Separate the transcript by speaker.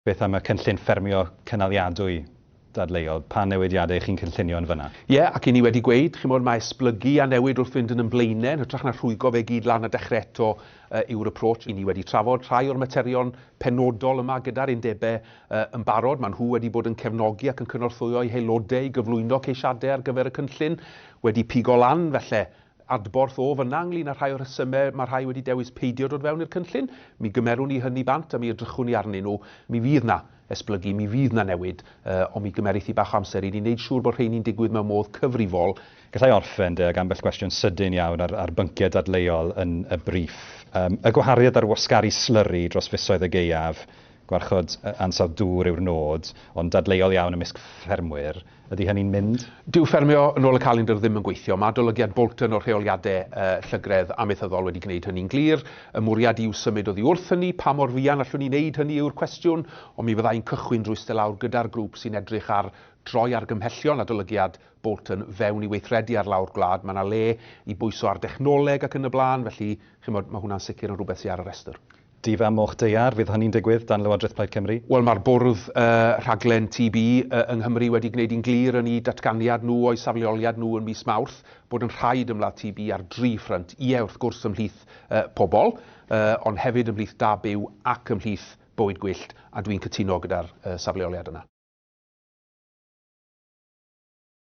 Speaker 1: Beth am y cynllun ffermio cynaliadwy dadleuol? Pa newidiadau chi'n cynllunio yn fan'na? Ie, ac i ni wedi
Speaker 2: gweud, chimod, mae esblygu a newid wrth fynd yn yn blaenau, yn hytrach na rhwygo fe i gyd lan a dechrau eto, yy, yw'r approach. I ni wedi trafod rhai o'r materion penodol yma gyda'r undebau, yy, yn barod. Maen nhw wedi bod yn cefnogi ac yn cynorthwyo'u haelodau i gyflwyno ceisiadau ar gyfer y cynllun, wedi pigo lan, felly, adborth o fynna ynglŷn â rhai o'r rhesymau mae rhai wedi dewis peidio dod fewn i'r cynllun, mi gymerwn ni hynny bant a mi edrychwn ni arnyn nhw. Mi fydd 'na esblygu, mi fydd 'na newid, ond mi gymerith hi bach o amser i ni wneud siŵr bod rheini'n digwydd mewn modd cyfrifol. Galla i orffen,
Speaker 1: de, ag ambell gwestiwn sydyn iawn ar, ar bynciau dadleuol yn y briff. Yym, y gwahariad ar wasgaru slyri dros fisoedd y gaeaf, gwarchod ansawdd dŵr yw'r nod, ond dadleuol iawn ymysg ffermwyr, Ydy hynny'n mynd? Dyw ffermio yn
Speaker 2: ôl y calendr ddim yn gweithio. Mae adolygiad Bolton o'r rheoliadau llygredd amaethyddol wedi gwneud hynny'n glir. Y mwriad yw symud oddi wrth hynny. Pa mor fuan allwn ni wneud hynny yw'r cwestiwn, ond mi fydda i'n cychwyn drwy iste lawr gyda'r grŵp sy'n edrych ar droi argymhellion adolygiad Bolton fewn i weithredu ar lawr gwlad. Mae yna le i bwyso ar dechnoleg ac yn y blaen, felly, chi'n gwybod, mae hwnna'n sicr yn rhywbeth sydd ar y rhestr. Dydd a Moch Daear,
Speaker 1: fydd hynny'n digwydd dan Lywodraeth Plaid Cymru? Wel, mae'r Bwrdd
Speaker 2: Rhaglen TB yng Nghymru wedi gwneud hi'n glir yn eu datganiad nhw o'u safleoliad nhw ym mis Mawrth bod yn rhaid ymladd TB ar dri ffrynt, ie, wrth gwrs, ymhlith pobl, ond hefyd ymhlith da byw ac ymhlith bywyd gwyllt, a dwi'n cytuno gyda'r safleoliad yna.